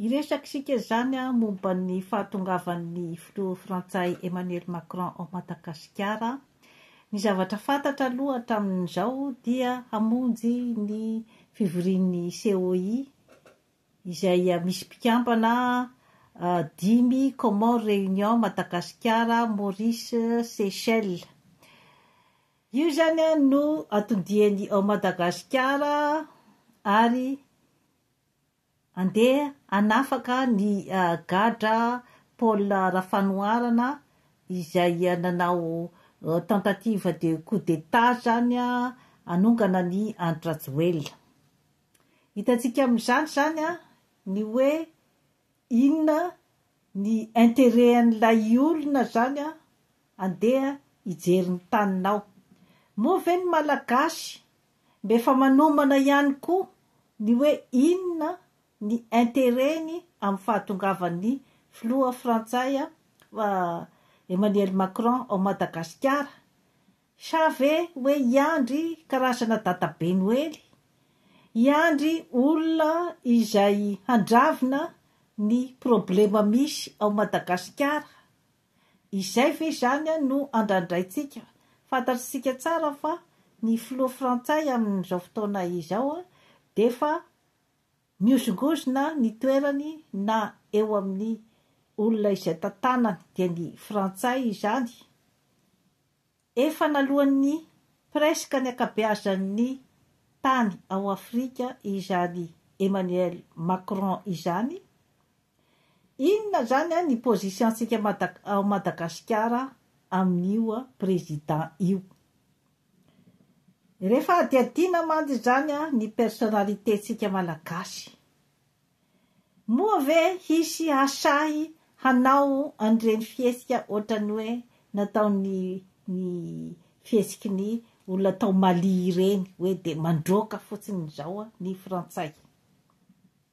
Hiresaka isika izany momba ny fahatongavan'ny filoha frantsay Emmanuel Macron ao Madagasikara. Ny zavatra fantatra aloha hatramin'izao dia hamonjy ny fivorian'ny COI izay misy mpikambana dimy, Comores, Réunion, Madagasikara, Maurice, Seychelles. Io izany no anton-diany ao Madagasikara ary Andeha hanafaka ny gadra Paul Rafanoharana izay nanao tentative de coup d'Etat izany hanongana an'i Andry Rajoelina. Hitantsika amin'izany izany ny hoe Inona ny interet an'ilay olona zany an andeha hijery ny taninao. Moa ve ny malagasy mba efa manomana ihany koa ny hoe inona ny interet-ny amin'ny fahatongavan'ny filoha frantsay Emmanuel Macron ao Madagasikara? Sa ve hoe i Andry karazana dadabe Noely? I Andry olona izay handravona ny problema misy ao Madagasikara? Izay ve izany no andrandraintsika? Fantatr'isika tsara fa ny filoha frantsay amin'izao fotoana izao dia efa mihozongozona ny toerany na eo amin'ny olona izay tantanany dia ny frantsay izany Efa naloan'ny presque ny ankabeazan'ny tany ao Afrika izany Emmanuel Macron izany, inona izany ny position-tsika ao Madagasikara amin'io Président io? Rehefa hadihadiana mantsy izany ny personnalité-tsika Malagasy, Moa ve hisy hahasahy hanao an'ireny fihetsika ohatran'ny hoe nataon'ny ny fihetsiky ny olona tao Mali ireny, hoe dia mandroaka fotsiny izao ny frantsay?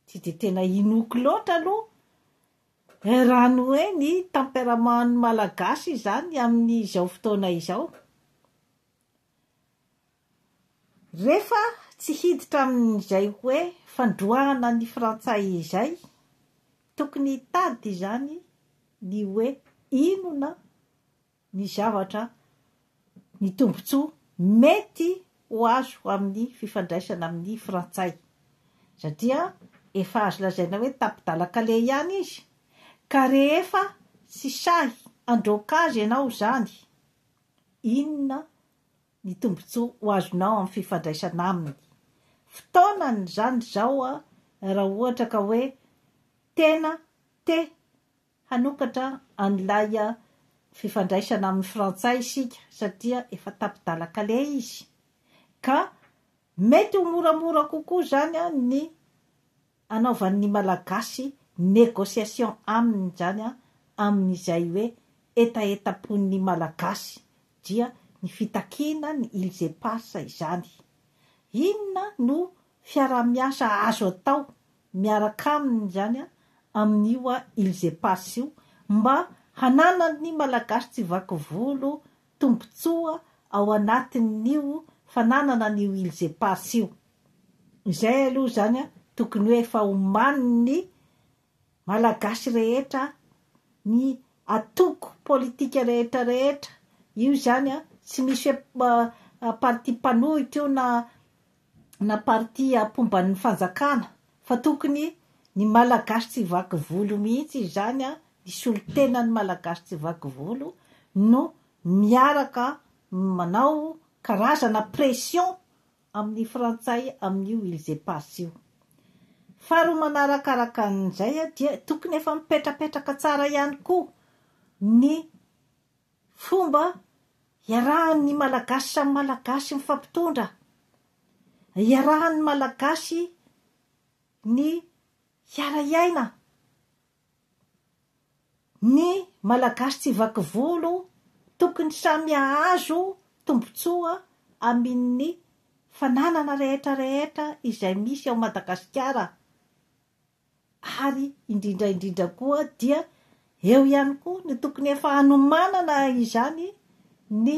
Tsy dia tena inoako loatra aloha eh, raha ny hoe ny temperamentn'ny malagasy izany amin'izao fotoana izao. Rehefa tsy hiditra amin'izay hoe fandroahana ny frantsay izay, tokony hitady izany ny hoe inona ny zavatra, ny tombontsoa mety ho azo amin'ny fifandraisana amin'ny frantsay, satria efa azo lazaina hoe tapi-dalan-kaleha ihany izy, ka rehefa tsy sahy handroaka azy ianao izany, Inona ny tombontsoa ho azonao amin'ny fifandraisana aminy? Fotoanany izany izao raha ohatra ka hoe tena te hanokatra an'ilay fifandraisana amin'ny frantsay isika satria efa tapi-dalan-kaleha izy ka mety ho moramora kokoa izany ny anaovan'ny Malagasy négociation aminy izany an, amin'izay hoe hetahetam-pon'ny Malagasy dia ny fitakiana ny îles éparses izany. Inona no fiaraha-miasa azo atao miaraka aminy izany an, amin'io an îles éparses io mba hananan'ny Malagasy tsy vaky volo tombontsoa ao anatin'io fananana an'io Îles Éparses io. Izay aloha izany tokony hoe efa omanin'ny Malagasy rehetra, ny antoko politika rehetra rehetra io izany, tsy misy hoe parti mpanohitra io na na partie apomban'ny fanjakana fa tokony ny malagasy tsy vaky volo mihitsy izany an, ny solontenan'ny malagasy tsy vaky volo no miaraka manao karazana pression amin'ny frantsay amin'io îles éparses io. Faharoa manarakaraka an'izay dia tokony efa mipetrapetraka tsara ihany koa ny Fomba iarahan' ny Malagasy samy Malagasy mifampitondra, iarahan' ny Malagasy ny hiara-hiaina, ny Malagasy tsy vaky volo tokony samy hahazo tombotsoa amin' ny fananana rehetra rehetra izay misy ao Madagasikara. ary indrindra indrindra koa dia eo ihany koa no tokony efa hanomanana izany ny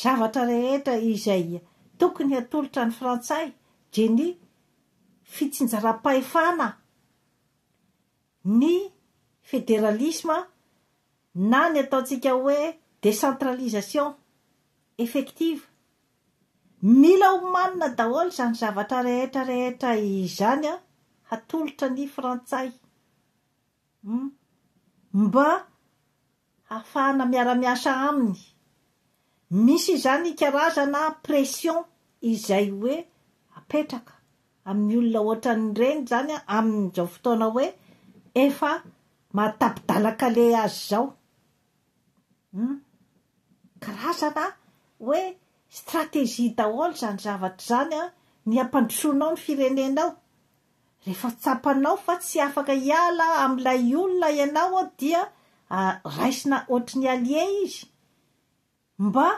zavatra rehetra izay tokony hatolotra ny frantsay dia ny fitsinjaram-pahefana ny federalisma na ny ataontsika hoe décentralisation effective Mila omanina daholo izany zavatra rehetra rehetra izany an, hatolotra ny frantsay humm mba hahafahana miara miasa aminy, misy izany karazana pression izay hoe apetraka amin'ny olona ohatran'ireny izany an amin'izao fotoana hoe efa maha tapi-dalan-kaleha azy izao, Hum. Karazana an, hoe stratégie daholo izany zavatra izany an, ny hampandrosoanao ny firenenao. Rehefa tsapanao fa tsy afaka hiala amin'ilay olona ianao dia raisina ohatry ny allié izy. Mba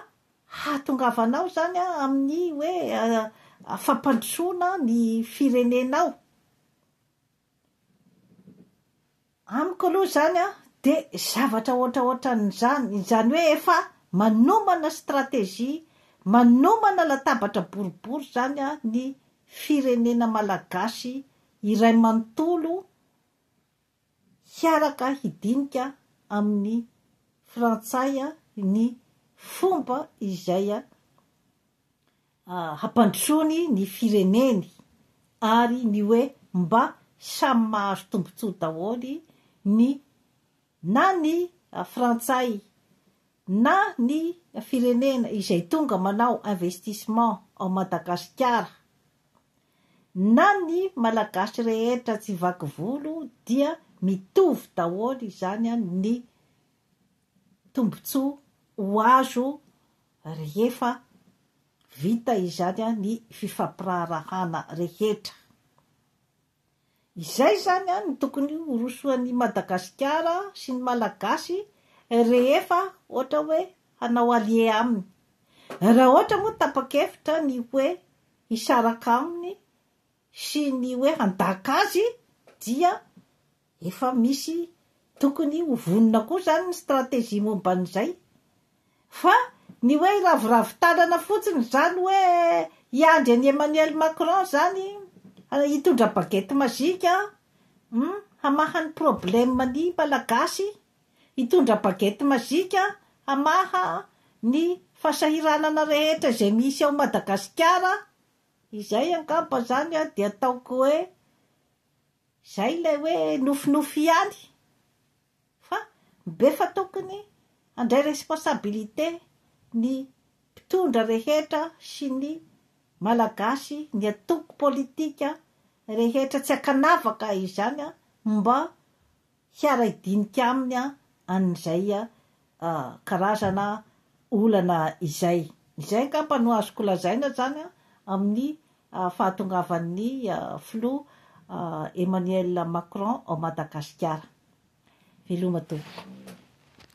hahatongavanao izany an, amin'ny hoe fampandrosoana ny firenenao. Amiko aloha izany an, dia zavatra ohatraohatran'izany, izany hoe efa manomana stratégie, manomana latabatra boribory izany an, ny firenena malagasy iray manontolo hiaraka hidinika amin'ny frantsay ny fomba izay hampandrosoany ny fireneny ary ny hoe mba samy mahazo tombontsoa daholo ny na ny frantsay na ny firenena izay tonga manao investissement ao Madagasikara na ny malagasy rehetra tsy vaky volo dia mitovy daholo izany ny tombontsoa ho azo Rehefa vita izany ny fifampiraharahana rehetra. Izay izany no tokony horosoan'i Madagasikara sy ny Malagasy rehefa ohatra hoe hanao allier aminy. Raha ohatra moa tapa-kevitra ny hoe hisaraka aminy sy ny hoe handaka azy dia Efa misy tokony ho vonona koa izany ny stratégie momba an'izay. Fa ny hoe hiraviravy tanana fotsiny izany hoe hiandry an'i Emmanuel Macron izany hitondra baguette magique hum hamaha ny problème ny Malagasy, hitondra baguette magique hamaha ny fahasahiranana rehetra izay misy ao Madagasikara, izay angamba izany dia ataoko hoe Izay ilay hoe nofinofy ihany fa befa tokony handray responsabilité ny mpitondra rehetra sy ny malagasy ny antoko politika rehetra tsy ankanavaka izany mba hiara-hidinika aminy an'izay karazana olana izay. Izay angamba no azoko lazaina izany amin'ny fahatongavan'ny filoha Emmanuel Macron ao Madagasikara. Veloma tompoko.